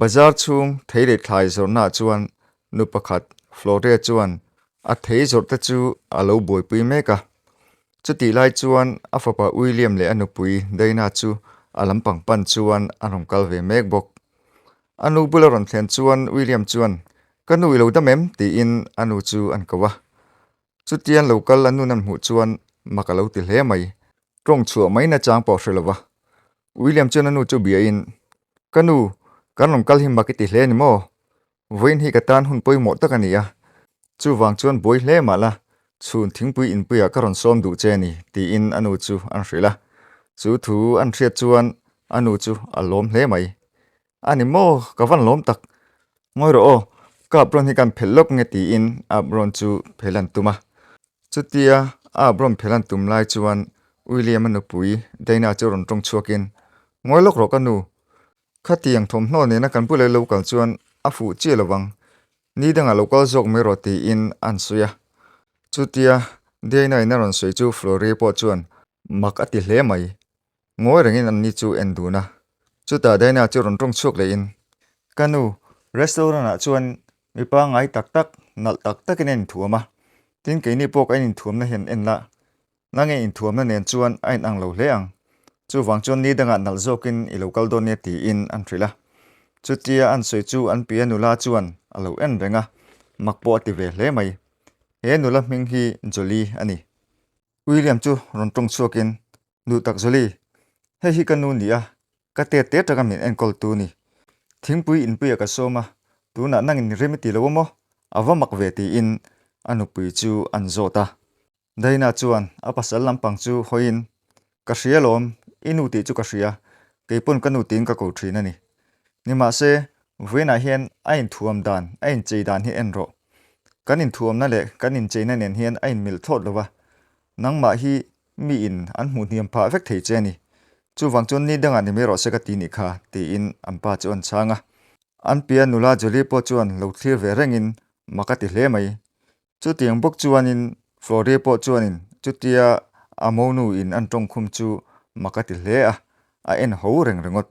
Bazar chhung thei leh thlai zawrhnaah chuan nu pakhat Florria chuan a thei zawrh te chu a lo buaipui mek a. Chutih lai chuan a fapa William leh a nupui Dana chu a lampang pan chuan an rawn kal ve mek bawk. A nu bula rawn thlen chuan William chuan, Ka nu i lo dam em? tiin a nu chu an ko a. Chutian lo kal an nu nan hmuh chuan mak a lo ti hle mai. Tawng chhuah mai nachang pawh a hre lo a. William chuan a nu chu biain, Ka nu, kan rawn kal hi mak i ti hle ni maw? Vawiin hi ka tan hun pawimawh tak a ni a, chuvang chuan buai hle mah la, Chhun thingpui inpuiah ka rawn sawm duh che ni, tiin a nu chu an hrilh a. Chu thu an hriat chuan a nu chu a lawm hle mai. A ni maw? Ka van lawm tak. Ngawi rawh aw, ka apron hi kan phelh lawk nge tiin a apron chu phelh an tum a. Chutia a apron phelh an tum lai chuan William-a nupui Dana chu rawn ṭawng chhuakin, Ngawi lawk rawh ka nu. Khatiang thawmhnaw nena kan pu leh lo kal chuan a fuh chiah lo vang, ni dangah lo kal zawk mai rawh tiin an sawi a. Chutia Diana in a rawn sawi chu Florie pawh chuan mak a ti hle mai. Ngawi rengin an ni chu en dun a. Chutah Diana chu rawn ṭawng chhuak lehin, Ka nu, restaurant ah chuan mipa ngai tak tak, nalh tak takin a inthuam a, tin keini pawh ka ininthuamna hian en la, Na nge inthuamna nen chuan a inang lo hle ang, chuvang chuan ni dangah nalh zawkin i lo kal dawn nia tiin an hrilh a. Chutia an sawi chu an piah nula chuan a lo en reng a, mak pawh a ti ve hle mai. He nula hming hi Jolly a ni. William chu rawn tawng chhuakin, Nu tak Jolly, hei hi ka nu ni a, ka tet te taka min enkawl tu ni. Thingpui inpuiah ka sawm a, tunah nangin rim i ti lo a maw? A va mak ve tiin a nupui chu an zawt a. Daina chuan, A pasal lampang chu hawiin ka hria lawm, i nu tih chu ka hria, keipawn ka nu tiin ka ko thin a ni. Nimahse, Vuina hian a inthuam dan, a inchei dan hi en rawh. Kan inthuamna leh kan incheina nen hian a inmilh thlawt lo va, nangmah hi miin an hmuh hniam phah vek thei che a ni. Chuvang chuan ni dangah ni mai rawh se ka ti nih kha, tiin an pa chu a rawn chhang a. An pian nula Julie pawh chuan lo thlir ve rengin mak a ti hle mai. Chutiang bawk chuanin Flore pawh chuanin chutia a monu in an tawng khum chu mak a ti hle a, a en ho reng ringawt.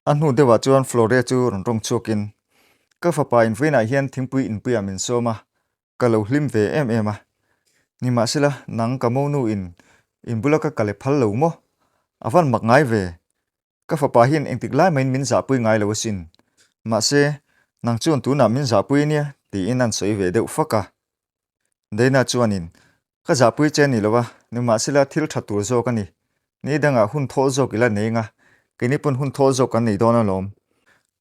A hnu deuhah chuan Flore chu rawn rawng chhuakin, Ka fapa in vawiinah hian thingpui inpuia min sawm a, ka lo hlim ve em em a. Nimahsela, nang ka monu in inbula ka kale phal lo maw? A van mak ngai ve. Ka fapa hian engtik lai maiin min zahpui ngai lo asin. Mahse, nang chuan tunah min zahpui ania tiin a insawi ve deuh fak a. Dana chuanin, Ka zahpui che ni lo a, nimahsela thil tha tur zawk a ni. Ni dangah hun thawl zawk i la nei nga, kei ni pawn hun thawl zawk kan nei dawn alawm.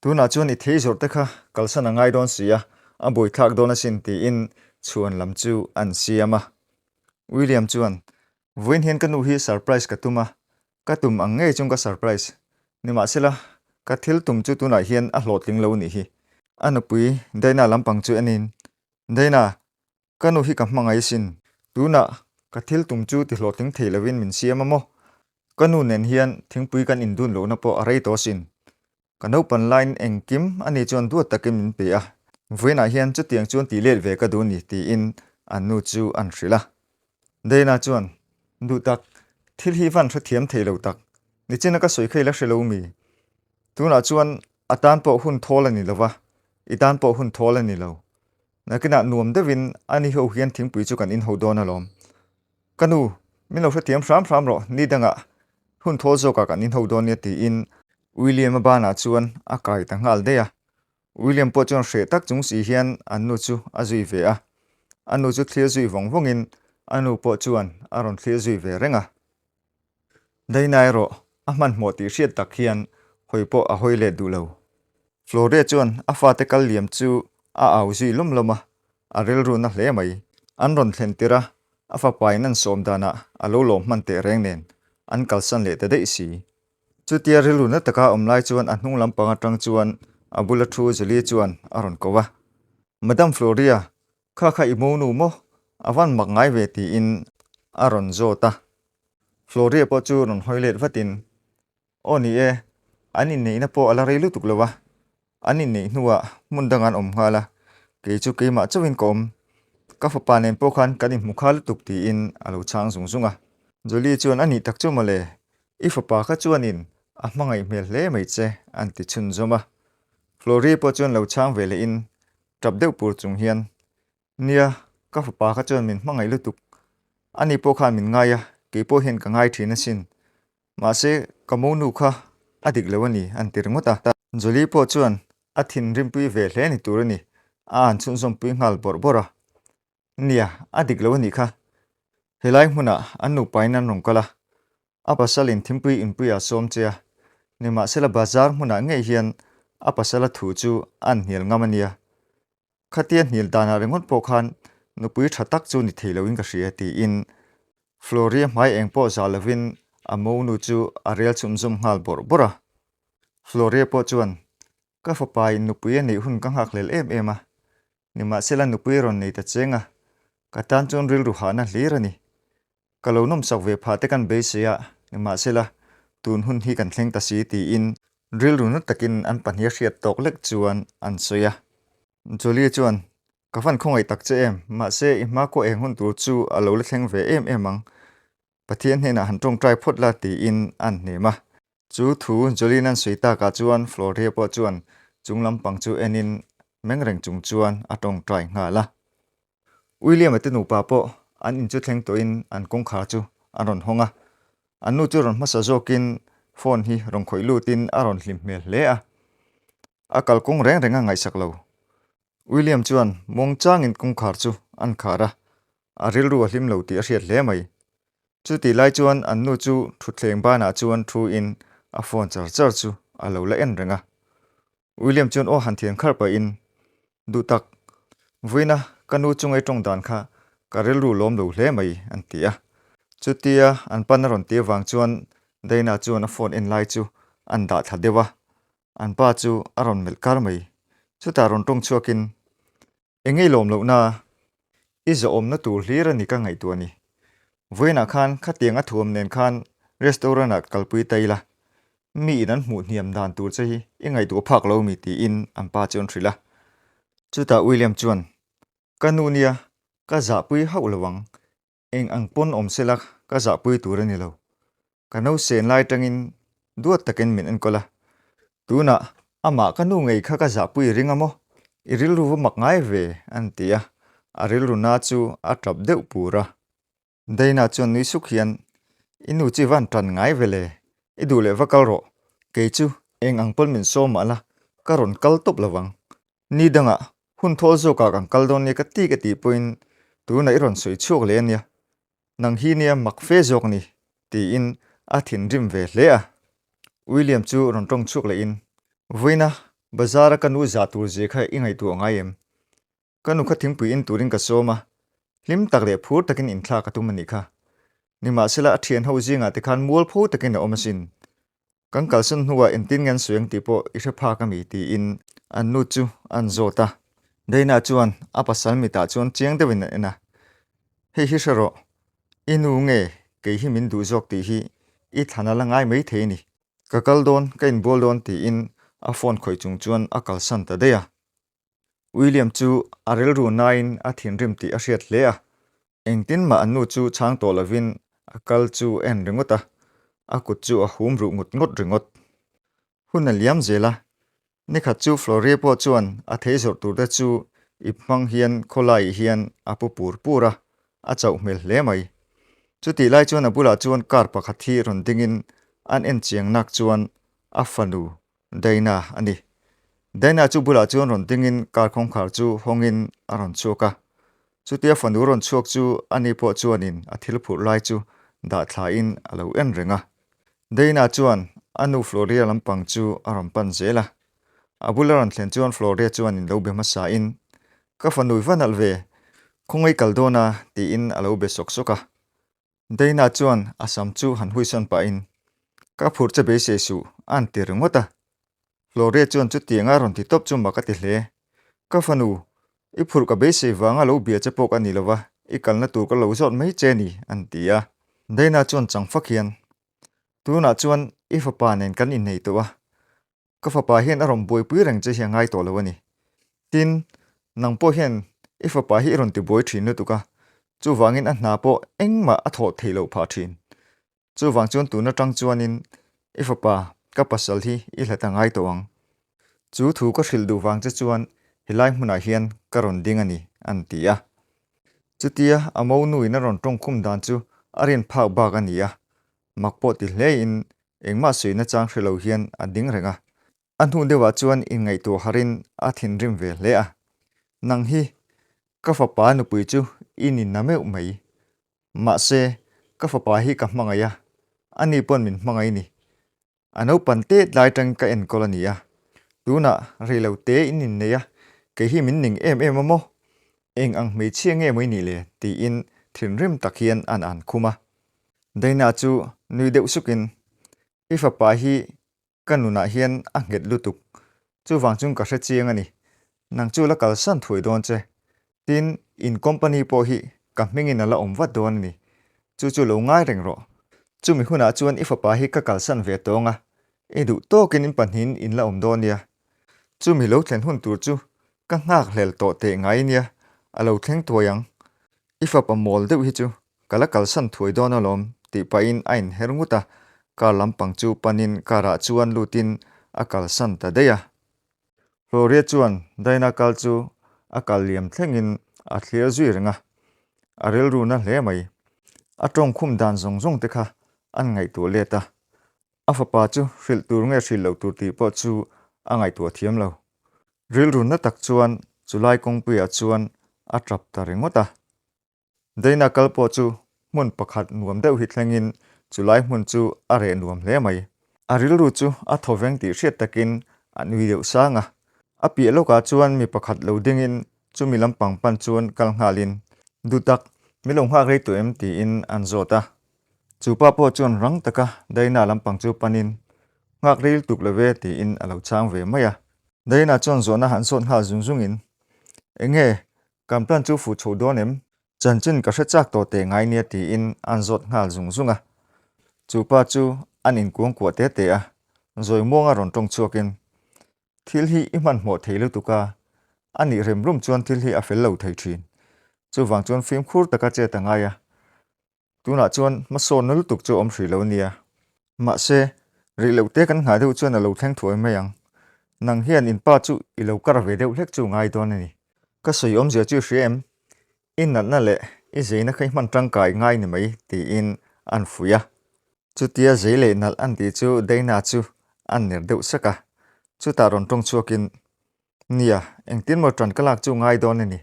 Tunah chuan i thei zawrh te kha kalsan a ngai dawn si a, a buaithlak dawn asin tiin chhuan lam chu a insiam a. William chuan, Vawiin hian ka nu hi surprise ka tum a, Ka tum ang ngei chung ka surprise. Nimahsela, ka thil tum chu tunah hian a hlawh tling lo anih hi. A nupui Dayna lampang chu en in, Dayna, ka nu hi ka hmangaih sin. Tunah ka thil tum chu ti hlawhtling thei lovin min siam a maw? Ka nu nen hian thingpui kan indun lohna pawh a rei tawh sin. Ka naupan lain engkim a ni chuan duat takin min pe a, vawiinah hian chutiang chuan ti let ve ka duh ni tiin an nu chu an hrilh a. Dayna chuan, Duhtak, thil hi van hrethiam thei lo tak, nichina ka sawi kha i la hre lo mi? Tunah chuan a tan pawh hun thawl a ni lo va, i tan pawh hun thawl a ni lo. Nakinah nuam deuhin ani ho hian thingpui chu kan inho dawn alawm. Ka nu, min lo hrethiam hram hram rawh, ni dangah hun thaw zawkah kan inho dawn nia, tiin William-a banah chuan a kai ta nghal daih a. William pawh chuan hreh tak chung si hian an nu chu a zui ve a. A nu chu thlir zui vawng vawngin a nu pawh chuan a rawn thlir zui ve reng a. Dainai rawh, a hmanhmawh tih hriat tak hian hawi pawh a hawi let duh lo. Flore chuan a fate kal liam chu a au zui lawm lawm a, a rilru na hle mai. An rawn thlen tir a, a fapa in an sawm danah a lo lawm hman teh reng nen an kalsan leh ta daih si. Chutia rilru na taka awm lai chuan a hnung lampang atang chuan a bula thu Julie chuan a rawn ko va, Madam Flore-a, Kha kha i mo nu maw? A van mak ngai ve tiin a rawn zawt a. Floria pawh chu rawn hawi let vatin, Aw ni e, an inneihna pawh a la rei lutuk lo a, an inneih hnuah hmun dangah an awm nghal a, kei chu keimah chauhin ka awm, ka fapa nen pawh khan kan inhmu kha lutuk tiin a lo chhang zung zung a. Julie chuan, A nih tak chu mawle, i fapa kha chuanin a hmangaih hmel hle mai che, an ti chhunzawm a. Floria pawh chuan lo chhang ve lehin tap deuh pur chung hian, Nia, ka fapa kha chuan min hmangaih lutuk, ani pawh khan min ngai a, kei pawh hian ka ngai thin asin, mahse, ka monu kha a dik lo a ni, an ti ringawt a. Jolly pawh chuan a thinrimpui ve hle ni tur a ni, a an chhunzawmpui nghal bawrh bawrh a, Nia, a dik lo a nih kha. He lai hmunah an nupain an rawn kal a, a pasalin thingpui inpui a sawm che a, nimahsela bazar hmunah ngei hian a pasala thu chu a an hnial ngam a nia. Khatia hnil danah ringawt pawh khan nupui tha tak chu ni thei loin ka hria, tiin Floria hmai eng pawh za lovin a monu chu a rel chhumzawm nghal bawrh bawrh a. Floria pawh chuan, Ka fapa in nupui a neih hun ka nghakhlel em em a, Nimahsela nupui rawn nei ta cheng a, ka tan chuan rilru hahna hlir a ni. Ka lo nawmsak ve phah te kan beisei a, nimahsela tun hun hi kan thleng ta si tiin rilru nut takin an pahnih a hriat tawk lek chuan an sawi a. Jolly chuan, Ka van khawngaih tak che em, mahse i hma khuaeng hun tur chu a lo la thleng ve em em ang. Pathian hnenah han tawng try phawt la tiin a an hnem a. Chu thu Jolin an sawi takah chuan Floria pawh chuan chung lampang chu enin meng reng chung chuan a tawng try nghal a. William-a te nupa pawh an in chu thleng tawhin an kawngkhar chu an rawn hawng a. An nu chu rawn hmasa zawkin phone hi rawn khawih lutin a rawn hlim hmel hle a. A kalkawng reng renga ngaihsak lo. William chuan mawngchangin kawngkhar chu an khar a, a rilru a hlim lo tih a hriat hle mai. Chutih lai chuan an nu chu thutthleng banah chuan thuin a phone char char chu a lo la en reng a. William chuan aw han thian khar pahin, Duh tak, Vuina, ka nu chu ngei tawng dan kha ka rilru lawm lo hle mai, an ti a. Chutia an pan a rawn ti avang chuan Dayna chuan a phone en lai chu an dah thla deuh a, an pa chu a rawn melh kar mai. Chutah rawn tawng chhuakin, I ngei lawm loh na a, i zawhawmna tur hlir a ni ka ngaihtuah a ni. Vawiinah khan khatiang a thuam nen khan restaurant-ah kalpui ta ila, mi in an hmuh hniam dan tur che hi i ngaihtuah phak lo mi tiin an pa chu an hrilh a. Chutah William chuan, Ka nu nia, ka zahpui hauh lo ang, Eng ang pawn awm sela ka zahpui tur a ni lo. Ka no sen lai tangin duat takin min enkawl a. Tunah amah ka nu ngei kha ka zahpui ring a maw? I rilru va mak ngai ve an ti a, a rilru na chu a tap deuh pur a. Dayna chuan nui suk hian, I nu chu i van tan ngai vele, i duh leh va kal rawh, kei chu eng ang pawn min sawm mah la, ka rawn kal tawp lovang, Ni danga hun thawl zawkah kan kal dawn nia ka ti ka tih pawhin tunah i rawn sawi chhuak leh ania, nang hi nia mak fe zawk a ni, tiin a thinrim ve hle a. William chu rawn tawng chhuak leh in, Vawiina, bazara ka nu zah tur zia kha i ngaihtuah ngai em? Ka nu kha thingpui in turin ka sawm a, hlim tak leh phur takin inthlak a tum anih kha. Nimahsela a thianho zingah te khan mual pho takin a awm asin. Kan kalsan hnuah engtin nge an sawi ang tih pawh i hre phak a mi, tiin an nu chu a an zawt a. Dayna chuan a pasal mitah chuan chiang deuhin a en a, Hei hi hre rawh, i nu nge kei hi min duh zawk tih hi i thlan a la ngai mai thei ni? Ka kal dawn, ka inbual dawn, tiin a phone khawih chung chuan a kalsan ta daih a. William chu a rilru naiin a thinrim tih a hriat hle a. Engtin mah an nu chu chhang tawh lovin a kal chu a en ringawt a, a kut chu a hum ruh ngawt ngawt ringawt. Hun a liam zel a, nikhat chu Floria pawh chuan a thei zawrh tur te chu ip hmang hian khawlaiih hian a pu pur pur a, a chauh hmel hle mai. Chutih lai chuan a bulah chuan car pakhat hi rawn dingin an en chiangnak chuan a fanu Dayna a ni. Dayna chu bulah chuan rawn dingin car kawngkhar chu hawngin a rawn chhuak a. Chutia fanu rawn chhuak chu ani pawh chuanin a thil phurh lai chu dah thlain a lo en reng a. Dayna chuan a nu Floria lampang chu a rawn pan zel a. A bula rawn thlen chuan Floria chuanin lo be hmasain, Ka fa nui va nalh ve, khawngawi kal dawn a, tiin a lo be sawk sawk a. Dayna chuan a sam chu han huisawn pahin, Ka phur che beisei suh, a'n ti ringawt a. Flore chuan chutiang a rawn ti tawp chu mah ka ti hle. Ka fanu, i phurh ka beisei vanga lo bia che pawk a ni lova, i kalna tur ka lo zawt mai che ni, a'n ti a. Dayna chuan chang fak hian, Tunah chuan i fapa nen kan inneih tawh a, ka fapa hian a rawn buaipui reng che hi a ngai tawh lo a ni. Tin, nang pawh hian i fapa hi i rawn tibuai thin lutuk a, chuvangin a hna pawh engmah a thawh thei lo phah thin. Chuvang chuan tun atang chuanin i fapa, ka pasal hi i hla ta ngai tawh ang. Chu thu ka hrilh duh vang che chuan he lai hmunah hian ka rawn ding a ni, an ti a. Chutia a mo nuin a rawn tawngkhum dan chu a rian phak bak a ni a, mak pawh ti hle in engmah suih nachang hre lo hian a ding reng a, a hnu deuh ah chuan in ngaihtuah har in a thinrim ve hle a, nang hi ka fapa nupui chu i nina meuh mai, mahse ka fapa hi ka hmangaih a, ani pawn min hmangaih ni, A naupan te tlai tang ka enkawl a nia, tunah reilo te in innei a, kei hi min ning em em a maw? Eng ang hmeichhia nge mai nih le? tiin thinrim tak hian an an khum a. Daina chu nui deuh sukin, I fapa hi ka nunah hian a nghet lutuk, chuvang chung ka hrechiang a ni, nang chu la kalsan thuai dawn che, Tin, in company pawh hi ka hmingin a la awm vat dawn a ni. Chu chu lo ngai reng rawh. Chumi hunah chuan i fapa hi ka kalsan ve tawng a, i duh tawkin in pahnihin in la awm dawn nia. Chumi lo thlen hun tur chu ka nghak hlel tawh teh ngai nia, a lo thleng tuai ang. I fapa mawl deuh hi chu ka la kalsan thuai dawn alawm tih pahin a inher ngut a, car lampang chu panin car-ah chuan lutin a kalsan ta daih a. Gloria chuan Daina kal chu a kal liam thlengin a thlir zui reng a, a rilruna hle mai. A tawng khum dan zawng zawng te kha an ngaihtuah let a, a fapa chu hrilh tur nge hrilh loh tur tih pawh chu a ngaihtuah thiam lo. Rilrunna tak chuan chu lai kawngpuiah chuan a tap ta ringawt a. Daina kal pawh chu hmun pakhat nuam deuh hi thlengin chu lai hmun chu a reh nuam hle mai. A rilru chu a thaw veng tih hriat takin a nui deuh sang a. A piah lawkah chuan mi pakhat lo dingin chu mi lampang pan chuan kal nghalin, Du tak, mi lo nghak rei tawh em? tiin an zawt a. Chu pa pawh chuan rang taka Daina lampang chu panin, Nghak rei lutuk lo e tiin a lo chang ve mai a. Daina chuan zawhna han zawt nghal zung zungin, Eng nge Kan plan chu fuh chho dawn em? Chanchin ka hre chak tawh teh ngai nia tiin an zawt nghal zung zung a. Chu pa chu an inkuang kuah te te a, zawi muanga rawn tawng chhuakin, Thil hi i hmanhmawh thei lutuk a, a nih rem rum chuan thil hi a fel lo thei thin. Chuvang chuan fimkhur taka chet a ngai a, Tunah chuan hmasaw na lutuk chu a awm hrih lo nia. Mahse, rih loh te kan nghah deuh chuan a lo thleng thuai mai ang. Nang hian in pa chu i lo kar ve deuh hlek chu ngai dawn a ni. Ka sawi awmzia chu i hria em? I natna leh i zeina kha i hman tangka i ngai ni mai, tiin a an fuih a. Chutia zei leh nalh a ni tih chu Dana chu a an ner deuh sak a. Chutah rawn tawng chhuakin, Nia, engtin maw ṭan ka lak chu ngai dawn a ni.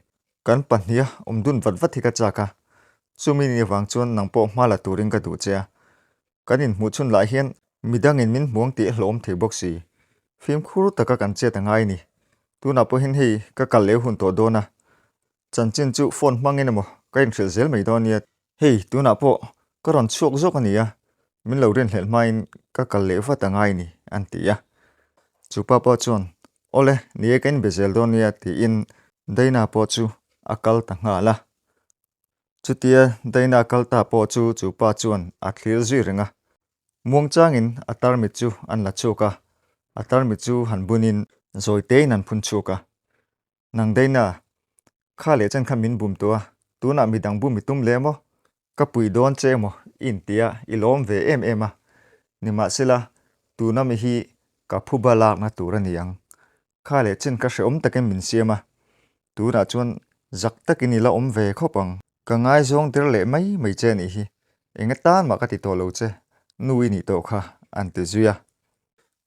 Kan pahniha awm dun vat vat hi ka chak a, chumi ni avang chuan nang pawh hma la turin ka duh che a. Kan inhmuhchhun lah hian midangin min hmuang tih a hlawm thei bawk si. Fimkhur taka kan chet a ngai a ni. Tunah pawhin hei ka kal leh hun tawh dawn a. Chanchin chu phone hmangin emaw ka inhrilh zel mai dawn nia. Hei, tunah pawh ka rawn chhuak zawk a nia, min lo rinhlelh hmain ka kal leh vat anga i ni? an ti a. Chu pa pawh chuan, Aw le, ni e ka inbe zel dawn nia, tiin Dayna pawh chu a kal ta nghal a. Chutia Dayna a kal ta pawh chu chu pa chuan a thlîr zui reng a. Muangchângin a tarmit chu an la chhuak a, a tarmit chu han bunin zawitein an phun chhuak a. Nang daina, kha leh chan kha min bum tû a, tûnah midang bum i tum leh maw? Ka pui dâwn che emaw? i intihah i lâwm ve êm êm a, nimahsela, tûna mi hi ka phuba lâkna tûr a ni ang. Kha leh chin kha hrehawm takin min siam a, tûnah chuan zak takin i la awm ve khawp ang. Ka ngaizawng der leh mai mai che nih hi, eng a tân mah ka ti tawh lo che, nu i nih tawh kha, an ti zui a.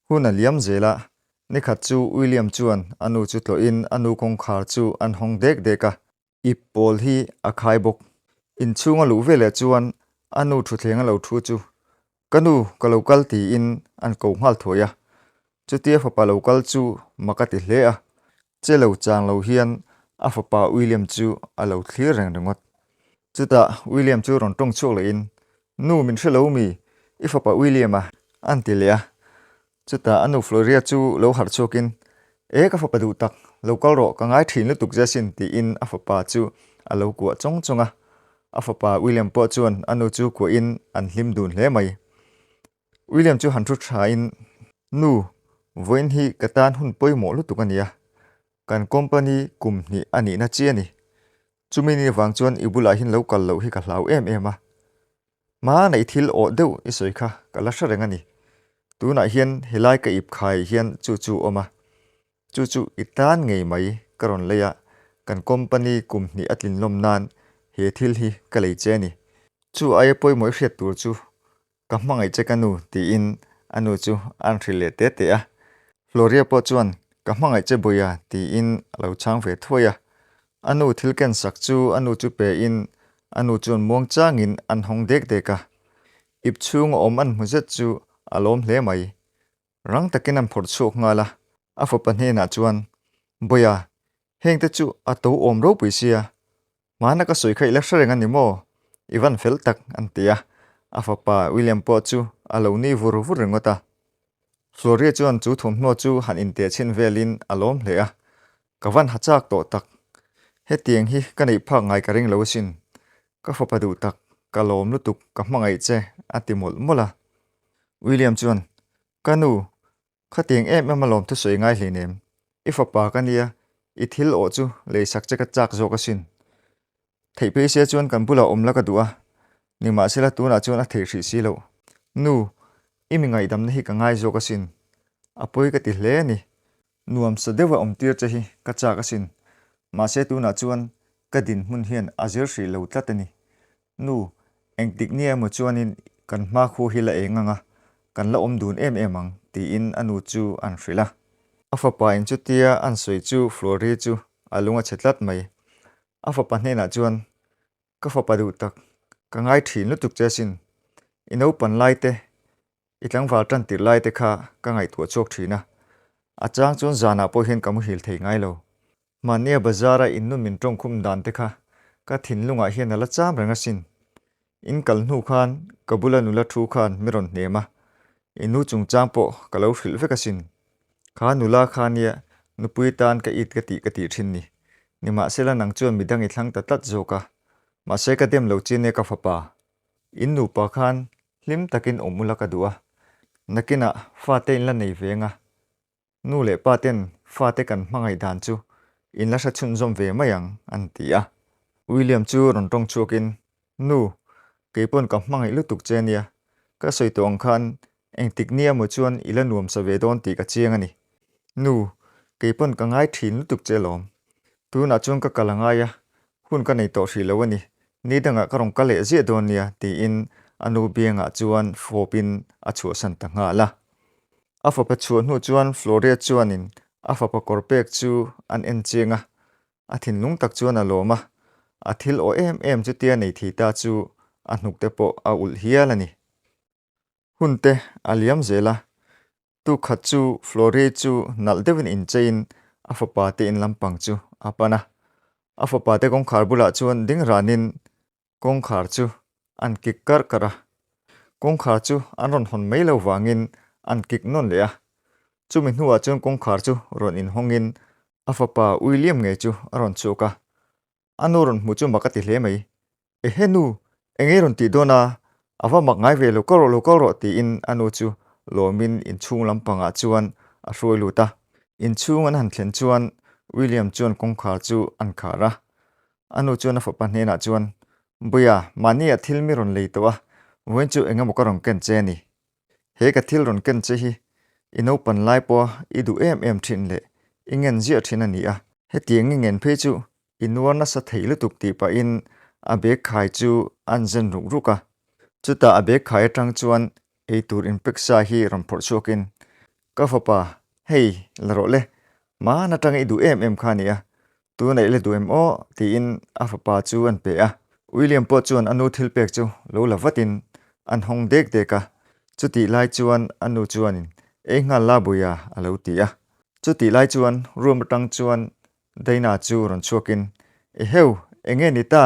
Hun a liam zel a, ni khat chu William chuan a nu chu tlawhin a nu kawngkhar chu an hawng dek dek a. Ip pawl hi a khai bawk. Inchhung a luh vel leh chuan a nu thutthleng a lo thu chu, Ka nu, ka lo kal tiin an ko nghal thuai a. Chutia fapa lo kal chu mak a ti hle a. Che lo chang lo hian a fapa William chu a lo thlir reng ringawt. Chutah William chu rawn tawng chhuak lohin, Nu, min hre lo mi, i fapa William a? an ti leh a. Chutah a nu Floria chu lo harh chhuakin, E, ka fapa duh tak, lo kal rawh, ka ngai ṭhin lutuk zia sin, tiin a fapa chu a lo kuah chawng chawng a. A fapa William pawh chuan a nu chu kuahin an hlim dun hle mai. William chu han ṭhu ṭhain, Nu, vawiin hi ka tan hun pawimawh lutuk a nia, kan company kum hnih a nihna chiah a ni. Chumi ni avang chuan i bulah hin lo kal loh hi ka hlau em em a, hmanei thil awh deuh i sawi kha ka la hre reng a ni. Tunah hian helai ka ip khai hian chu chu awm a, chu chu i tan ngei mai ka rawn lei a, kan company kum hnih a tlinlawm nan he thil hi ka lei che a ni. Chu aia pawimawih hriat tur chu Ka hmangaih che ka nu, tiin a nu chu a an hrilh leh te te a. Floria pawh chuan, Ka hmangaih che bawih a, tiin a lo chhang ve thuai a. A nu thil ken sak chu a nu chu pein a nu chuan muang changin an hawng dek dek a. Ipchhung a awm an hmu zet chu a lawm hle mai. Rang takin an phawrh chhuak nghal a, a fapa hnenah chuan, Bawia, hengte chu a to awm ropui sia, hmana ka sawi kha i la hre reng a ni maw? I van fel tak, an ti a. A fapa William pawh chu a lo ni vur vur ringawt a. Floria chuan chu thawmhnaw chu han inteh chhin velin a lawm hle a, Ka van ha chak tawh tak. Hetiang hi ka neih phak ngai ka ring lo asin. Ka fapa duh tak, ka lawm lutuk ka hmangaih che a ti mawlh mawlh a. William chuan, Ka nu, khatiang em em a lawm thusawi ngai hlin em. I fapa ka nia, i thil awh chu leisak che ka chak zawk asin. Theih phei sia chuan kan bulah awm la ka duh a, nimahsela tunah chuan a theih hrih si lo. Nu, i mi ngaihdamna hi ka ngai zawk asin, a pawi ka ti hle a ni. Nuam sa deuha awm tir che hi ka chak asin, mahse tunah chuan ka din hmun hian a zir hrih lo tlat a ni. Nu, engtik nia emaw chuanin kan hma khaw hi la eng ang a, kan la awm dun em em ang, tiin a nu chu an hrilh a. A fapa in chutia an sawi chu Flori chu a lung a chhe tlat mai. A fapa hnenah chuan, Ka fapa duh tak, ka ngai ṭhin lutuk che asin. I naupan lai te, i tlangval ṭantirh lai te kha ka ngaihtuah chhuak ṭhin a. A chang chuan zanah pawh hian ka muhil thei ngai lo. Mahnia bazar-a in nu min ṭawngkhum dan te kha ka thinlungah hian a la cham reng asin. In kal hnu khan ka bula nula thu khan min rawn hnem a, i nu chungchang pawh ka lo hrilh vek asin. Kha nula kha nia nupui tan ka it ka tih ka tih thin ni. Nimahsela nang chuan midang i thlang ta tlat zawk a, mahse ka dem lo chin e ka fapa. In nupa khan hlim takin awm ula ka duh a, nakinah fate in la nei veng a, Nu leh paten fate kan hmangaih dan chu in la hrechhunzawm ve mai ang an ti a. William chu rawn tawng chhuakin, Nu, keipawn ka hmangaih lutuk che nia, ka sawi tawh ang khan engtik nia maw chuan i la nuam sa ve dawn tih ka chiang a ni. Nu, keipawn ka ngai thin lutuk che lawm. Tunah chuan ka kal a ngai a, Hun ka nei tawh hrih lo a ni, ni dangah ka rawn kal leh ziah dawn nia, tiin a nu biangah chuan hrawpin a chhuahsan ta nghal a. A fapa chhuah hnu chuan Floria chuanin a fapa kawr pek chu an en chiang a, a thinlung tak chuan a lawm a, a thil aw em em chutia nei thei ta chu a hnukte pawh a ulh hial a ni. Hun te a liam zel a, tu khat chu Flore chu nalh deuhin incheiin a fapa te in lampang chu a pan a. A fapa te kawngkhar bulah chuan ding ranin kawngkhar chu an kik karh karh a. Kawngkhar chu an rawn hawn mai lo vangin an kik nawn leh a. Chumi hnuah chuan kawngkhar chu rawn inhawngin a fapa Uiliam ngei chu a rawn chhuak a. a nu rawn hmuh chu mak a ti hle mai. E he nu, engei rawn tih dawn a, a va mak ngai ve lo kal rawh lo kal rawh tiin a nu chu lawmin inchhung lampangah chuan a hruai lut a. Inchhung an han thlen chuan William chuan kawngkhar chu an khar a. A nu chuan a fapa hnenah chuan, Buia, mahni ah thil mi rawn lei tawh a, vawiin chu engemaw ka rawn ken che a ni. He ka thil rawn ken che hi i naupan lai pawha i duh em em thin leh i ngen ziah thin a ni a. Hetiang i ngen phei chu i nuar nasa thei lutuk tih pahin a bag khai chu an zen ruk ruk a. Chutah a bag khai atang chuan eitur inpeksa hi rawn phawrh chhuakin Ka fapa, Hei, la rawh le, mahn atanga i duh em em kha a ni a, tun aih le duh em aw, tiin a fapa chu an pe a. William pawh chuan a nu thilpek chu lo la vatin an hawng dek dek a, chutih lai chuan a nu chuanin, Ei nghal la bui a, a lo ti a. Chutih lai chuan room atang chuan Dana chu rawn chhuakin, I heu, enge ni ta,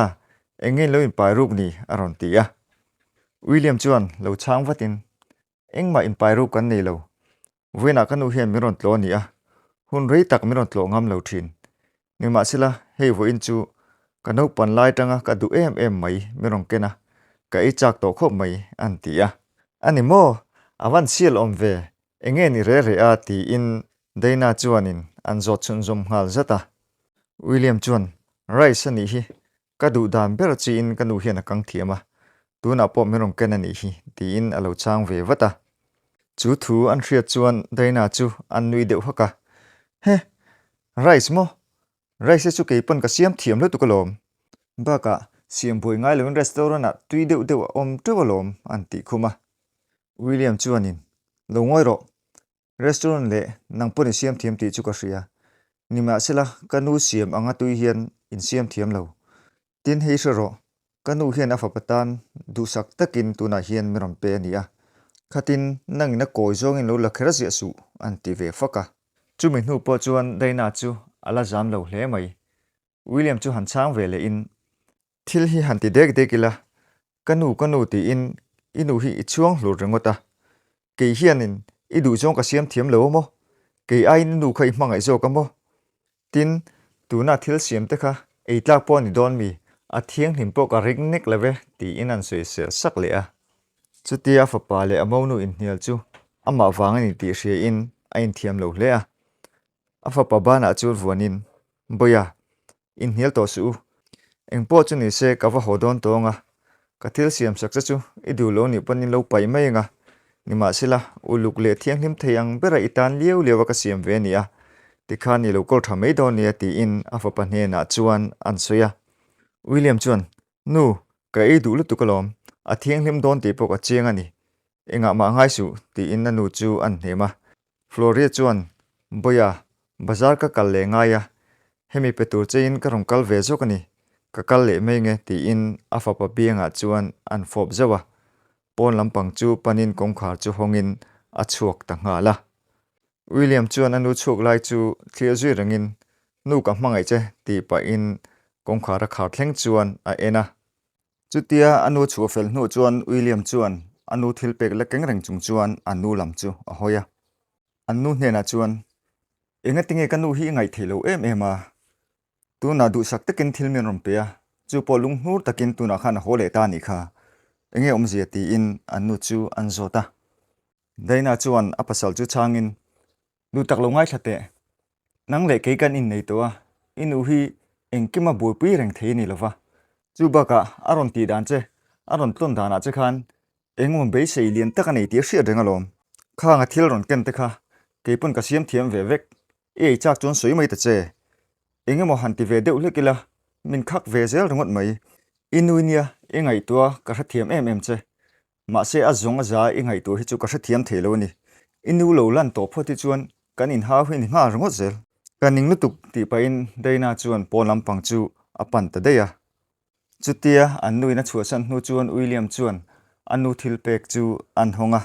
enge in lo inpai ruk ni? a rawn ti a. William chuan lo chhang vatin, Engmah inpai ruk kan nei lo. Vawiinah ka nu hian min rawn tlawh a ni a, hun rei tak min rawn tlawh ngam lo thin. Nimahsela, hei vawiin chu ka naupan lai tanga ka duh em em mai min rawn ken a, ka ei chak tawh khawp mai, an ti a. A ni maw? A van sial awm ve. Enge ni reh reh a? tiin Dana chuanin an zawt chhunzawm nghal zat a. William chuan, Rice a nih hi. Ka duh dan ber chi in ka nu hian a kang thiam a, tunah pawh min rawn ken a nih hi ti in a lo chang ve vat a. Chu thu an hriat chuan Daina chu an nui deuh hak a, He, rice maw? Rice-e chu kei pawn ka siam thiam lutuk alawm. Bakah siam buai ngai lo in restaurant ah tui deuh deuh a awm teuh alawm an tih khum a. William chuan in, Lo ngawi rawh, Restaurant leh nang pawh ni siam thiam tih chu ka hria. Ni mah se la, ka nu siam anga tui hian in siam thiam lo. Tin, hei hre rawh, ka nu hian a fapa tan duhsak takin tunah hian min rawn pe a nia. Khatin nang in a kawi zawngin lo la kher ziah suh an ti ve fak a. Chumi hnu pawh chuan Daina chu a la zam lo hle mai. William chu han chang ve leh in, Thil hi han ti dek dek ila, ka nu, ka nu tiin i nu hi i chuang hlur ringawt a, kei hianin i duh zawng ka siam thiam lo a maw, kei aiin i nu kha i hmangaih zawk a maw? Tin, tuna thil siam te kha ei tlak pawh a ni dawn mi, a thianghlim pawh ka ring nek lo ve tiin an sawi sel sak leh a. Chutia a fapa leh a monu inhnial chu amah vang a ni tih hria in a inthiam lo hle a, A fapa banah chu vuanin, Bawia, inhnial tawh suh u. Engpawh chu ni se ka va haw dawn tawh ang a, ka thil siam saksa chu i duh lo nih panin lo paih mai ang a, nimahsela, uluk leh thianghlim thei ang bera i tan liau liau a ka siam ve nia, tikhan i lo kawr tha mai dawn nia tiin a fapa hnenah chuan an sawi a. William chuan, Nu, ka ei duh lutuk alawm, a thianghlim dawn tih pawh ka chiang a ni, engah mah a ngai suh, tiin a nu chu a nhem a. Florrie chuan, Bawia, bazar ka kal leh ngai a, hemi pe tur cheiin ka rawn kal ve zawk a ni, ka kal leh mai nge tiin a fapa biangah chuan an fawp zauh a, pawn lampang chu panin kawngkhar chu hawngin a chhuak ta nghal a. William chuan a nu chhuak lai chu thlir zui rengin, Nu ka hmangaih che tih pahin kawngkhar a khar thleng chuan a en a. Chutia a nu chhu a fel hnuah chuan William chuan a nu thil pek la keng reng chung chuan a nu lam chu a hawi a. An nu hnenah chuan, Engatinge ka nu hi i ngaih theih lo em em a, tunah duhsak takin thil min rawn pe a, chu pawh lung hnur takin tunah khan a haw leh ta a nih kha, enge awmzia tiin an nu chu an zawt a. Daina chuan a pasal chu chhangin, Nu tak lo ngaithla teh. Nang leh kei kan innei tawh a, i nu hi engkima buaipui reng thei a ni lova. Chu bakah a rawn tih dan che, a rawn tlawn danah che khan engemaw beisei lian tak a nei tih a hriat reng alawm. Khanga thil rawn ken te kha kei pawn ka siam thiam ve vek, i ei chak chuan sawi mai ta che. Engemaw han ti ve deuh hlek ila, min khak ve zel ringawt mai. I nu nia i ngaihtuah ka hrethiam em em che. Mahse a zawng a za i ngaih tur hi chu ka hrethiam thei lo a ni. I nu lo lan tawh phawt hi chuan kan inhau hi a ni nghal ringawt zel. Ka ning lutuk tih pahin Dayna chuan pawn lampang chu a pan ta daih a. Chutia an nu in a chhuahsan hnu chuan William chuan a nu thil pek chu an hawng a.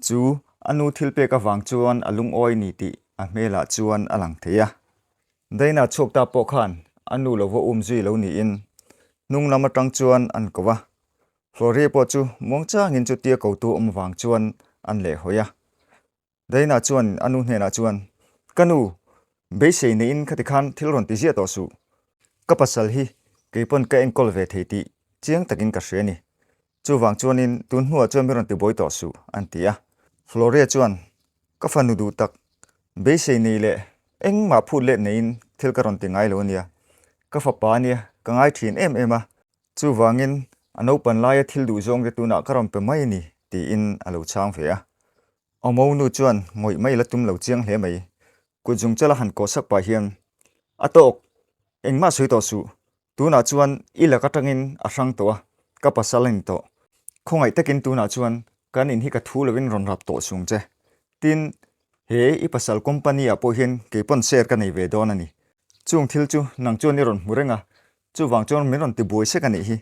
Chu a nu thil pek avang chuan a lungawi ni tih a hmelah chuan a lang thei a. Dayna chhuak ta pawh khan a nu lo va um zui lo niin hnunglam atang chuan an ko a. Florrie pawh chu muang changin chu tia ko tu awm vang chuan an leh hawi a. Dayna chuan a nu hnenah chuan, Ka nu, beisei neiin khati khan thil rawn ti ziah tawh suh. Ka pasal hi kei pawn ka enkawl ve thei tih chiang takin ka hria ni. Chuvang chuanin tun hnuah chuan mi rawn ti bawi tawh suh, an ti a. Florrie chuan, Ka fanu duh tak, beisei nei leh engmah phut let neiin thil ka rawn ti ngai lo a nia. Ka fapa ania ka ngai thin em em a. Chuvangin, a naupan laia thil duhzawng te tunah ka rawn pe mai a ni, tiin a lo chhang ve a. Omo nu chuan ngawih mai la tum lo chiang hle mai. Kut zung chala han kawh sak pah hian, A tawk! Engmah sawi tawh suh. Tunah chuan i lak atangin a hrang tawh a, ka pasal a ni tawh. Khawngaih takin tunah chuan kan in hi ka thu lovin rawn rap tawh sung che. Tin, he i pasal company-ah pawh hian kei pawn share ka nei ve dawn a ni. Chung thil chu nang chuan i rawn hmu reng a, Chuvang chuan min rawn ti buai sek a nih hi,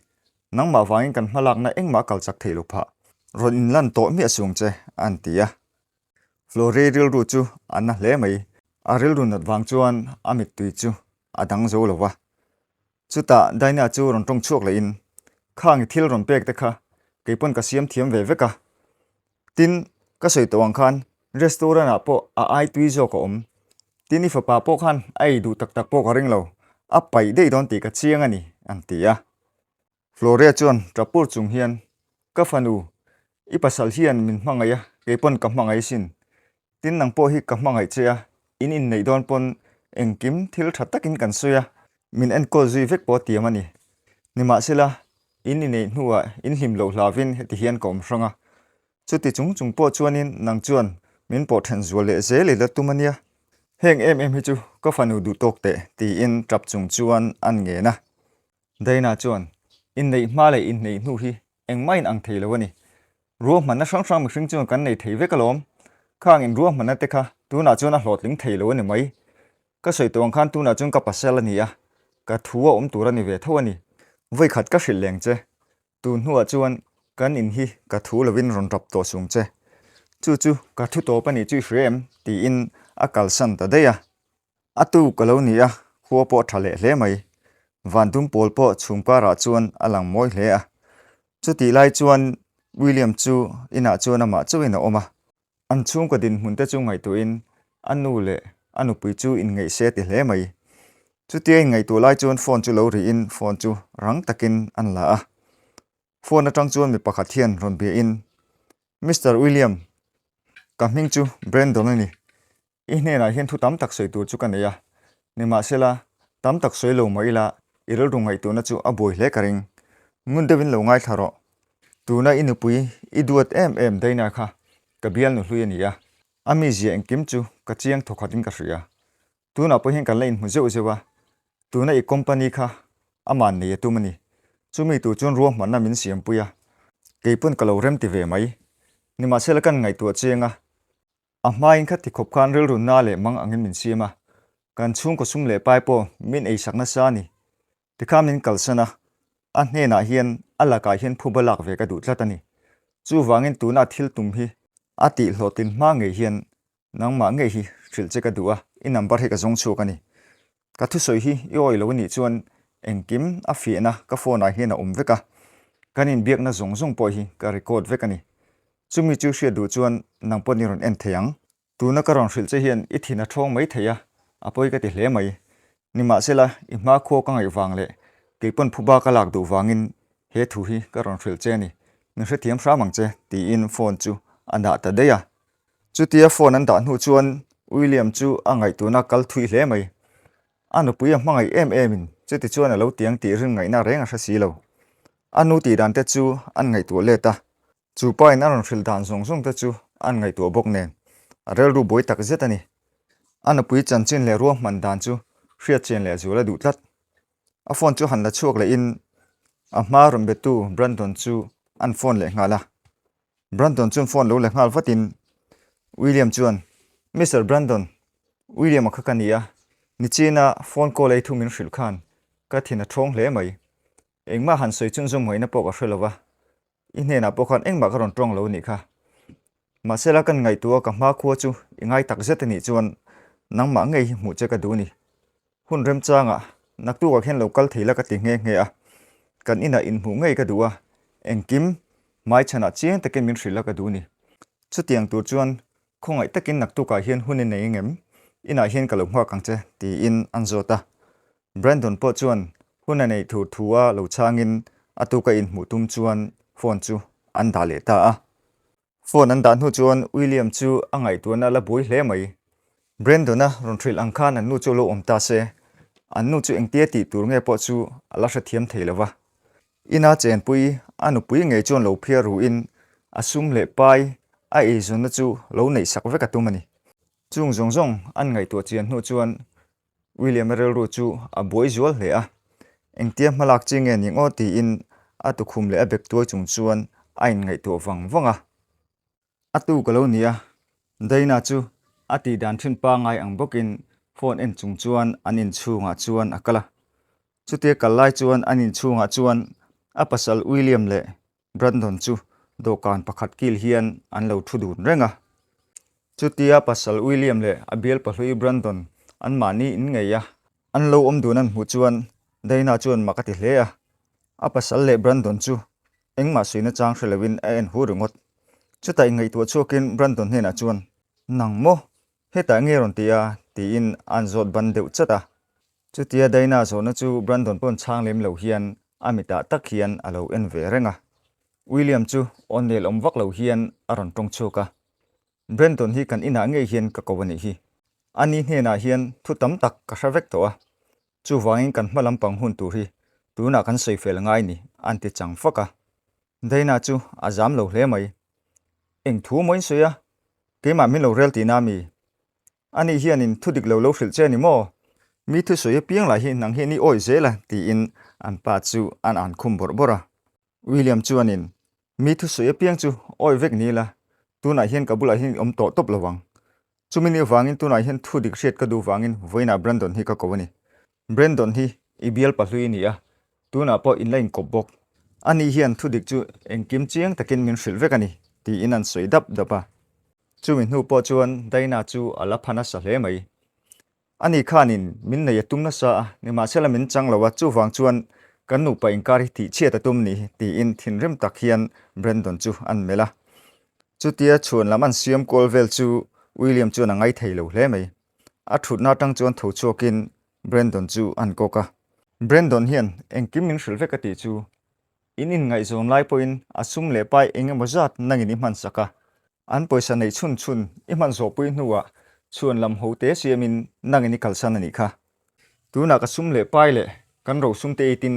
nangmah vangin kan hmalakna engmah kal chak thei lo phah, rawn inlan tawh miah sung che, a an ti a. Florey rilru chu a na hle mai, a rilru nat vang chuan a mittui chu a dang zo lo va. Chutah Daina chu rawn tawng chhuak lohin, Khang-i thil rawn pekte kha kei pawn ka siam thiam ve vek a, Tin, ka sawi tawh ang khan restaurant ah pawh a ai tui zawk a awm. Tin, i fapa pawh khan a ei duh tak tak pawh ka ring lo, a paih daih dawn tih ka chiang a ni, an ti a. Floria chuan Trapur chung hian, Ka fanu, i pasal hian min hmangaih a, kei pawn ka hmangaih asin. Tin, nang pawh hi ka hmangaih che a, in inneih dawn pawn engkim thil tha takin kan sawi a, min enkawl zui vek pawh a tiam a ni. Nimahsela, in inneih hnuah in hlim loh hlavin heti hian ka awm hrang a. Chuti chung chung pawh chuanin nang chuan min pawh then zual leh zel i la tum a nia. Heng em em hi chu ka fanu duhtawk teh, tiin ṭap chung chuan an ngen a. Dayna chuan, Inneih hma leh inneih hnu hi Engmahin ang thei lo a ni. Ruahmanna hrang hrang mihring chuan kan nei thei vek alawm. Khang in ruahmanna te kha tunah chuan a hlawhtling thei lo a ni mai. Ka sawi tawh ang khan tunah chuan ka pasal a ni a, ka thu a awm tur a ni ve tho a ni. Vawikhat ka hrilh leng che. Tun hnuah chuan kan in hi ka thu lovin rawn rap tawh sung che. Chu chu ka thu tawp a nih chu i hria em? tiin a kalsan ta daih a. A tuk a lo ni a, khua pawh a tha leh hle mai. Van dum pawl pawh chhumkarah chuan a lang mawi hle a. Chutih lai chuan William chu inah chuan amah chauhin a awm a. An chhungkaw dinhmun te chu ngaihtuahin a nu leh a nupui chu inngeih se ti hle mai. Chutia inngaihtuah lai chuan phone chu lo rihin phone chu rang takin an la a. Phone atang chuan mi pakhat hian rawn biahin, Mister William, ka hming chu Brandon a ni. I hnenah hian thu tam tak sawi tur chu ka nei a, nimahsela, tam tak sawi lo mah ila i rilru ngaih turna chu a buai hle ka ring. Ngun deuhin lo ngaithla rawh. Tuna i nupui, i duat em em Dayna kha ka bial nu hlui a ni a, a mizia engkim chu ka chiang thaw khatin ka hria. Tunah pawh hian kan la inhmu zeuh zeuh a, tuna i company kha a man nei a tum a ni. Chumi tur chuan ruahmanna min siampui a, kei pawn ka lo remti ve mai. Nimahsela kan ngaihtuah chianga A hmaiin kha tikhawp khan rilrunna leh mang angin min siam a, kan chhungkaw sum leh pai pawh min ei sak nasa a ni, ti kha min kalsan a, a hnenah hian a lakah hian phup a lak ve ka duh tlat a ni. Chuvangin tuna a thil tum hi a tih hlawh tin hma ngei hian nangmah ngei hi hrilh che ka duh a, i number hi ka zawng chhuak a ni. Ka thusawi hi i awi lo a nih chuan engkim a fiahna ka phone ah hian a awm vek a, kan inbiakna zawng zawng pawh hi ka record vek a ni. Chumi chu hriat duh chuan nang pawh ni rawn en thei ang. Tuna ka rawn hrilh che hian i thin a thawng mai thei a, a pawi ka ti hle mai. Nimahsela i hma khuaw ka ngaih vang leh keipawn phuba ka lak duh vangin he thu hi ka rawn hrilh che a ni. Min hrethiam hram ang che, tiin phone chu a dah ta daih a. Chutia phone an dah hnu chuan William chu a ngaihtuna kal thui hle mai. A nupui a hmangaih em emin chuti chuan a lo tiang tih rin ngaihna reng a hre si lo. A nu tih dan te chu an ngaihtuah let a, chu pain a rawn hrilh dan zawng zawng te chu an ngaihtuah bawk nen a relru buai tak zet a ni. A nupui chanchin leh ruahman dan chu hriatchian leh zual a duh tlat. A phone chu han la chhuak lehin a hma rawn betu Brandon chu an phone leh nghal a. Brandon chuan phone lo la nghal vatin William chuan, Mister Brandon, William-a kha ka ni a, nichina phone call ei thu min hrilh khan ka thin a thawng hle mai. Engmah han sawi chuan zawmngaihna pawh ka hre lo va, i hnenah pawh khan engmah ka rawn tawng lo anih kha. Mahsela kan ngaihtuah ka hma khua chu i ngai takzet anih chuan nangmah ngei hi hmuh che ka duh a ni. Hun remchangah naktukah khian lo kal thei la ka ti nghe nghe a, kan inah inhmuh ngei ka duh a, engkim hmai chhanah chiang takin min hrilh la ka duh ni? Chutiang tur chuan khawngaih takin naktukah hian hun i nei engem, inah hian ka lo nghak ang che tiin an zawt a. Brandon pawh chuan hun a nei thur thu a lo chhangin a tu ka inhmuh tum chuan phone chu an dah leh ta a. Phone an dah hnu chuan William chu a ngaihtuahna a la buai hle mai. Brendona rawn hrilh ang khan an nu chu a lo awm ta se, an nu chu engtia tih tur nge pawh chu a la hrethiam thei lo va. Ina chenpui a nupui ngei chuan lo phiar ruhin a sum leh pai a eizawnna chu lo neih sak vek a tum a ni. Chung zawng zawng an ngaihtuah chian hnu chuan William-a rilru chu a buai zual hle a, Engtia hma lak chi nge ni ngaw? tiin a tukhum leh a bek tuai chung chuan a inngaihtuah vang vang a. A tu ka lo ni a, Dana chu a tih dan thin pangngai ang bawkin phone en chung chuan an inchhungah chuan a kal a. Chutia kal lai chuan an inchhungah chuan a pasal William leh Brandon chu dawhkan pakhat kil hian an lo thu dun reng a. Chutia pasal William leh a bial pahlui Brandon an mahni in ngei a. An lo awm dun an hmuh chuan Dana chuan mak a ti hle a. A pasal leh Brandon chu engmah suihna chang hre loin a en hu ringawt. Chutah inngeihttuah chhuakin Brandon hnenah chuan, Nang maw? Hetah nge rawn ti a? tiin an zawt ban deuh chat a. Chutia Dayna zawhna chu Brandon pawn chhang lem lo hian a mitah tak hian a lo en ve reng a. William chu O'Neill awm vak lo hian a rawn tawng chhuak a. Brandon hi kan inah ngei hian ka ko a nih hi. Ani hnenah hian thu tam tak ka hre vek tawh a. Chuvangin kan hma lampang hun tur hi tunah kan sawi fel ngai ni an ti chang fak a. Dayna chu a zam lo hle mai. Eng thu mawin sawi a? Keimah min lo rel tihna a mi. A nih hian in thudik lo lo hrilh che ni maw? Mi thusui a piang lah hi nang hian i awih zel a tiin an pa chu an an khum bawrh bawrh a. William chuan in, Mi thusui a piang chu awih vek ni ila, tunah hian ka bulah hian i awm tawh tawp lo ang. Chumi ni avangin tunah hian thudik hriat ka duh vangin vawiinah Brandon hi ka ko a ni. Brendon hi i bial pahlui a ni a, tunah pawh in la inkawp bawk. Ani hian thudik chu engkim chiang takin min hrilh vek a ni, tiin an sawi dap dap a. Chumi hnu pawh chuan Daina chu a la pha nasa hle mai. Ani khanin min nei a tum nasa a, nimahsela min chang lo a, chuvang chuan kan nupa inkar hi tihchhiat a tum ni, tiin thinrim tak hian Brendon chu an melh a. Chutia chhuanlam an siam kual vel chu William chuan a ngai thei lo hle mai. A thutna atang chuan tho chhuakin Brandon chu a han kawk a. Brandon hian engkim min hrilh vek a tih chu in inngaihzawm lai pawhin a sum leh pai eng emaw zat nangin i hmansak a. An pawisa neih chhun chhun i hman zawhpui hnuah chuan lam ho te siamin nangin i kalsan a nih kha. Tunah ka sum leh pai leh kan rohsum te eitin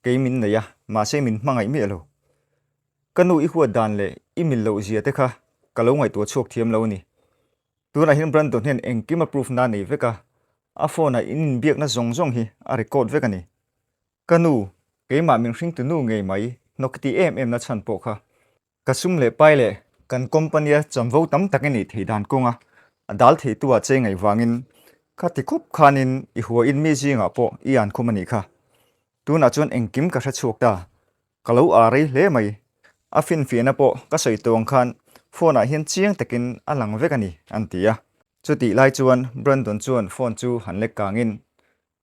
kei min nei a, mahse min hmangaih miah lo. Ka nu i huat dan leh i mil lohzia te kha ka lo ngaihtuah chhuak thiam lo a ni. Tunahin Brandon hian engkima proof na nei vek a, a phone-ah in inbiakna zawng zawng hi a record vek a ni. Ka nu, keimah min hring tu nu ngei mai, hnawk ti em em na chhan pawh kha, ka sum leh pai leh kan company-a chamvo tam tak i neih thei dan kawng a, a dal thei tu-a chei ngaih vangin kha ti khawp khanin i huain mi zingah pawh i an khum a nih kha. Tunah chuan engkim ka hre chhuak ta, Ka lo â rei hle mai. A finfiahna pawh ka sawi tawng khan phone-ah hian chiang takin a lang vek a ni, an ti a. Chutih lai chuan Brandon chuan phone chu han lek kangin,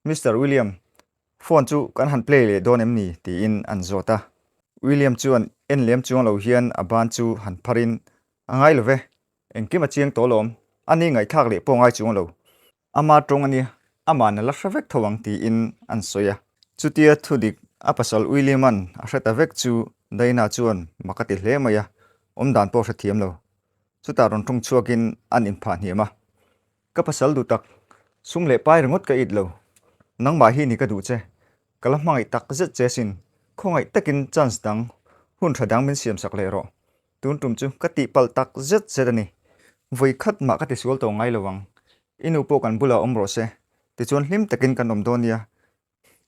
Mister William, phone chu kan han play leh dawn em ni? tiin an zawt a. William chuan en lem chuang lo hian a ban chu han pharin, A ngai lo ve. Engkim a chiang tawh alawm. A ni ngaithlak leh pawngai chuang lo. Amah tawng a nia, amah na la hre vek tho ang tiin an sawi a. Chutia thudik a pasal William-a'n a hre ta vek chu Dana chuan mak a ti hle mai a, awm dan pawh hrethiam lo. Chutah rawn ṭhung chhuakin an inphah hniam a, Ka pasal duhtak, sum leh pai ringawt ka it lo. Nangmah hi ni ka duh che. Ka la hmangaih takzet che sin, khawngaih takin chance dang, hun ṭha dang min siamsak leh rawh. Tun tum chu ka tih palh tak zet zet a ni. Vawi khat mah ka ti sual tawh ngai lo ang. I nu pawh kan bulah awm rawh se. Tichuan hlim takin kan awm dawn nia.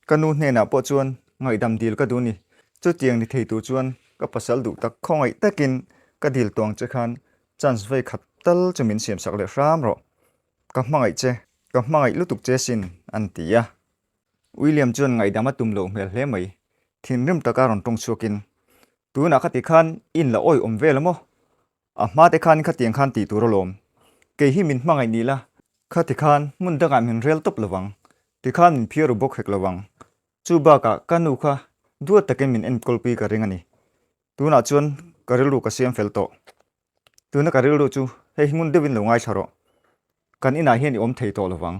Ka nu hnenah pawh chuan ngaihdam dil ka duh ni. Chutiang ni thei tur chuan ka pasal duh tak khawngaih takin ka dil tuang che khan chance vawi khat tal chu min siam sak leh hram rawh. Ka hmangaih che, ka hmangaih lutuk che sin, an ti a. William chuan ngaihdam a tum lo hmel hle mai. Thinrim taka rawn ṭawng chhuakin Tunah ka ti khan in la awi awm vel a maw? A hma te khan khatiang khan tih tur a lawm. Kei hi min hmangaih ni la. Khati khan hmun dangah min rel tawp lo vang ti khan min phiar u bawk hek lo vang. Chu bakah ka nu kha duat takin min enkawlpui ka ring a ni. Tunah chuan ka rilru ka siam fel tawh. tuna ka rilru chu hei hmun deuhin lo ngaithla rawh, kan inah hian i awm thei tawh lovang,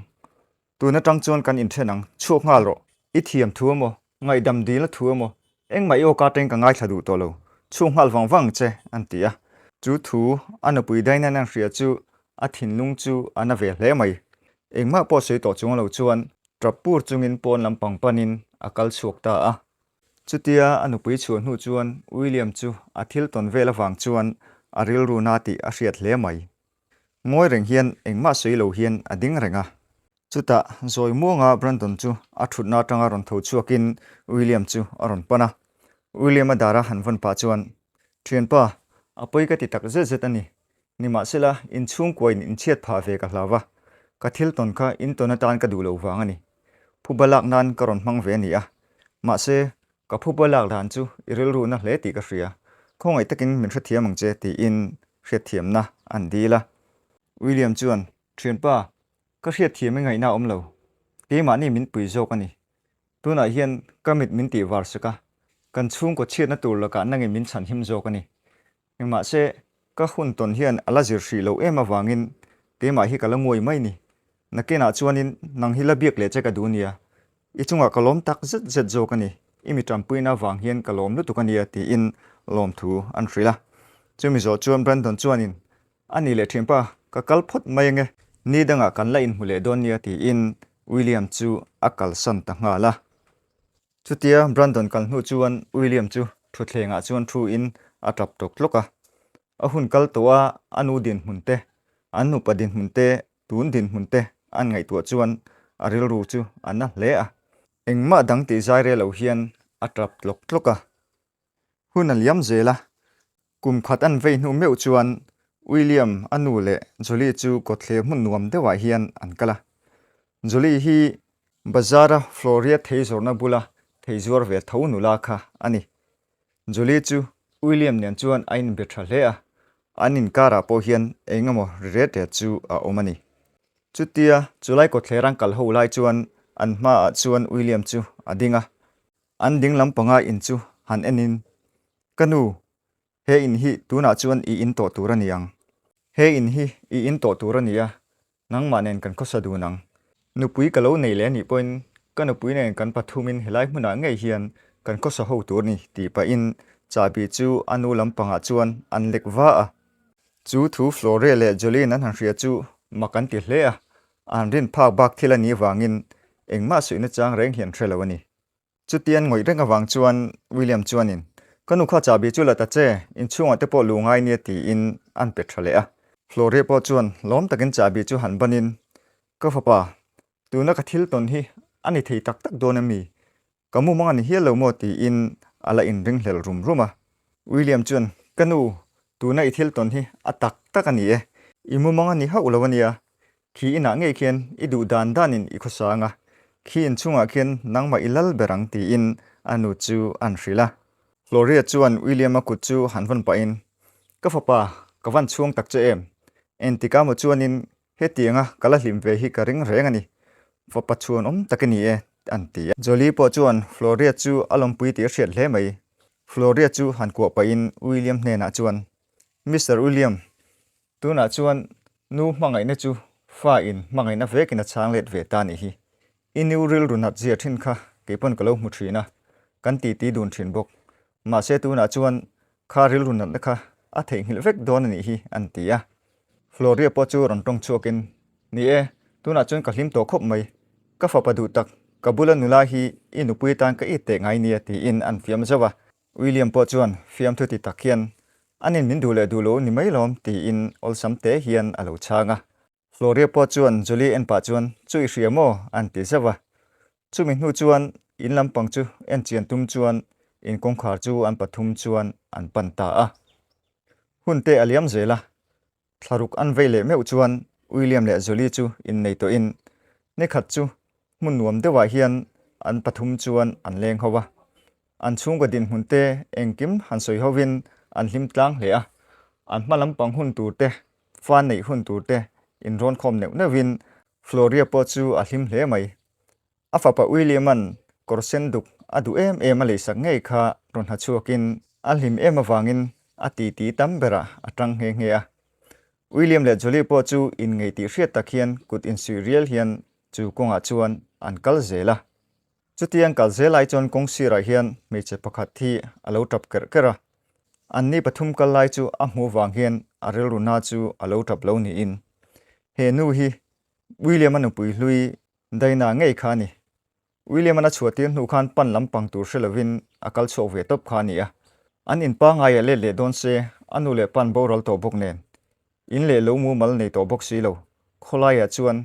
tun atang chuan kan inthen ang, chhuak nghal rawh, i thiam thu emaw, ngaihdam dilna thu emaw, engmah i awk aṭang ka ngaithla duh tawh lo, chhuak nghal vang vang che an ti a. Chu thu a nupui Dainan-a an hria chu a thinlung chu a na ve hle mai, engmah pawh sawi tawh chuang lo chuan ṭap pur chungin pawn lampang panin a kal chhuak ta a. Chutia a nupui chhuah hnu chuan William chu a thil tawn vel avang chuan a rilru na tih a hriat hle mai. Ngawi reng hian engmah sawi lo hian a ding reng a. Chutah zawi muanga Brandon chu a thutna atanga rawn tho chhuakin William chu a rawn pan a. William-a dara han vawn pah chuan, Thianpa, a pawi ka ti tak zet zet a ni. Ni mah sela, in chhungkuain in chhiat phah ve ka hlau a, ka thil tawn kha in tawn atan ka duh lo vang a ni. Phuba lak nan ka rawn hmang ve a ni a, mahse, ka phuba lak dan chu i rilruhna hle tih ka hria, khawngaih takin min hrethiam ang che tiin hriatthiamna an dil a. William chuan, Thianpa, ka hriatthiam i ngaihna a awm lo, keimahni min pui zawk a ni. Tunah hian ka mit min tihvar sak a, kan chhungkaw chhiatna tur lakah nange min chhan him zawk a ni. Engmahse, ka hun tawn hian a la zir hrih loh em avangin keimah hi ka la nguai mai ni. Nakenah chuanin, Nang hi la biak leh che ka duh nia, i chungah ka lawm tak zet zet zawk a ni, i mi ṭanpuina avang hian ka lawm lutuk a nia tiin lawmthu an hrilh a. Chumi zawh chuan Brandon chuanin, A ni leh ṭhianpa, ka kal phawt mai ang e. Ni dangah kan la inhmu leh dawn nia tiin William chu a kalsan ta nghal a. Chutia Brandon kal hnu chuan William chu thuthlengah chuan thuin a tlap tlawk tlawk a. A hun kal tawh a, a nu dinhmun te, an nupa dinhmun te, tun dinhmun te an ngaihtuah chuan a rilru chu a na hle a. Engmah dang tih zairelo hian a tlap tlawk tlawk a. hun a liam zel a, kum khat an vei hnu meuh chuan William a nu leh Julie chu kawtthler hmun nuam deuhah hian an kal a. Julie hi bazar-a Floria thei zawrhna bula thei zuar ve tho nula kha a ni. Julie chu William nen chuan a inbe tha hle a, an inkarah pawh hian engemaw ri ret ret chu a awm a ni. Chutia chulai kawtthler an kal ho lai chuan an hmaah chuan William chu a ding a, An ding lam panga in chu han en in, Ka nu, he in hi tunah chuan i in tawh tur a ni ang. He in hi i in tawh tur a ni a, nangmah nen kan khawsa dun ang. Nupui ka lo nei leh anih pawhin ka nupui nen kan pathum in helai hmunah ngei hian kan khawsa ho tur ni tih pahin Chahbi chu a nu lam pangah chuan an lek va a. Chu thu Flore leh Jolene an han hria chu mak an ti hle a, an rin phak bak thil a ni vangin engmah suihna chang reng hi an hre lo a ni. Chutian ngawih reng avang chuan William chuanin, Ka nu kha chahbi chu la ta che, inchhungah te pawh luh ngai nia tiin an pe tha leh a. Florrie pawh chuan lawm takin chahbi chu han banin, Ka fapa, tuna ka thil tawn hi a ni thei tak tak dawn em ni? Ka mumang a ni hial lo maw tiin a la inringhlel rum rum a. William chuan, Ka nu, tuna i thil tawn hi a tak tak a ni e. I mumang a ni hauh lo a nia, Khi inah ngei khian i duh dan danin i khawsang a, khi inchungah khian nangmah i lal ber ang tiin a nu chu an hrilh a. Gloria chuan William-a kut chu han vawn pahin, Ka fapa, ka van chhuang tak che em? Entika maw chuanin hetianga ka la hlim ve hi ka ring reng a ni. Fapa chhuanawm tak i ni e, an ti a. Jolie pawh chuan Floria chu a lawmpui tih a hriat hle mai. Floria chu han kuah pahin William hnenah chuan, Mister William, Tunah chuan nu hmangaihna chu fa in hmangaihna vekin a chhang let ve ta nih hi i nu rilru nat zia thin kha kei pawn ka lo hmu thin a, kan ti ti dun thin bawk. Mahse tunah chuan kha rilru natna kha a theihnghilh vek dawn a nih hi an ti a. Floria pawh chu rawn tawng chhuakin, Ni e, tunah chuan ka hlim tawh khawp mai. Ka fapa duhtak ka bula nula hi i nupui atan ka i teh ngai nia tiin an fiam zauh a. William pawh chuan fiamthu ti tak hian, An in min duh leh duh lo ni mai lawm, tiin awlsam te hian a lo chhang a. Floria pawh chuan Julie en pah chuan, Chu i hria maw? an ti zauh a. Chumi hnu chuan in lampang chu en chian tum chuan in kawngkhar chu an pathum chuan an pan ta a. Hun te a liam zel a, thlaruk an vei leh meuh chuan William leh Jolly chu innei tawhin ni khat chu hmun nuam deuhah hian an pathum chuan an leng ho a, an chhunga dinhmun te engkim han sawi hovin an hlim tlang hle a, an hma lampang hun tur te, fan neih hun tur te inrawn khawm neuh neuhin Floria pawh chu a hlim hle mai. A fapa William-a'n kawr sen duk a duh em em a lei sak ngei kha rawn ha chhuakin a hlim em avangin a ti ti tam berah a ṭang nghe nghe a. William leh Julie pawh chu in ngei tih hriat tak hian kut in suih rial hian chu kawngah chuan an kal zel a. Chutiang kal zel lai chuan kawng sirah hian hmeichhe pakhat hi a lo ṭap ker ker a. Anni pathum kal lai chu a hmuh vang hian a rilru na chu a lo ṭap lo niin he nu hi William-a nupui hlui Daina ngei kha a ni. William-an a chhuah tir hnu khan pan lampang tur hre lovin a kal chhuak ve tawp kha a ni a. An in pangngai ah let leh dawn se a nu leh pan boral tawh bawk nen in leh lo mumal nei tawh bawk si lo. Khawlai ah chuan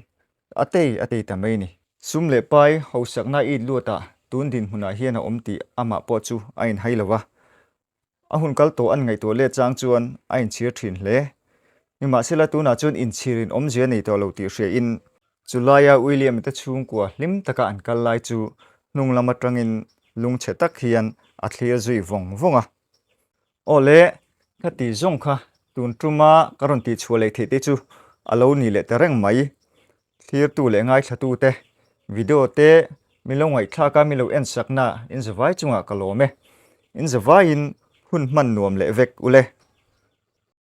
a tei a tei ta mai ni. Sum leh pai hausakna it luat ah tun dinhmun ah hian a awm tih amah pawh chu a in hai lo va. A hun kal tawh an ngaihtuah let chang chuan a inchhir thin hle. Nimahsela tunah chuan inchhir in awmzia nei tawh lo tih hriain, chu laia William te chhungkua hlim taka an kal lai chu hnunglam atangin lung chhe tak hian a thlir zui vawng vawng a. Aw le, khati zawng kha tun tuma ka rawn tihchhuah leh theih te chu a lo ni leh ta reng mai. Thlirtu leh ngaithlatute, video te min lo ngaihthlak a, min lo en sakna inzavai chungah ka lawm e. Inzavaiin hun hman nuam leh vek u le.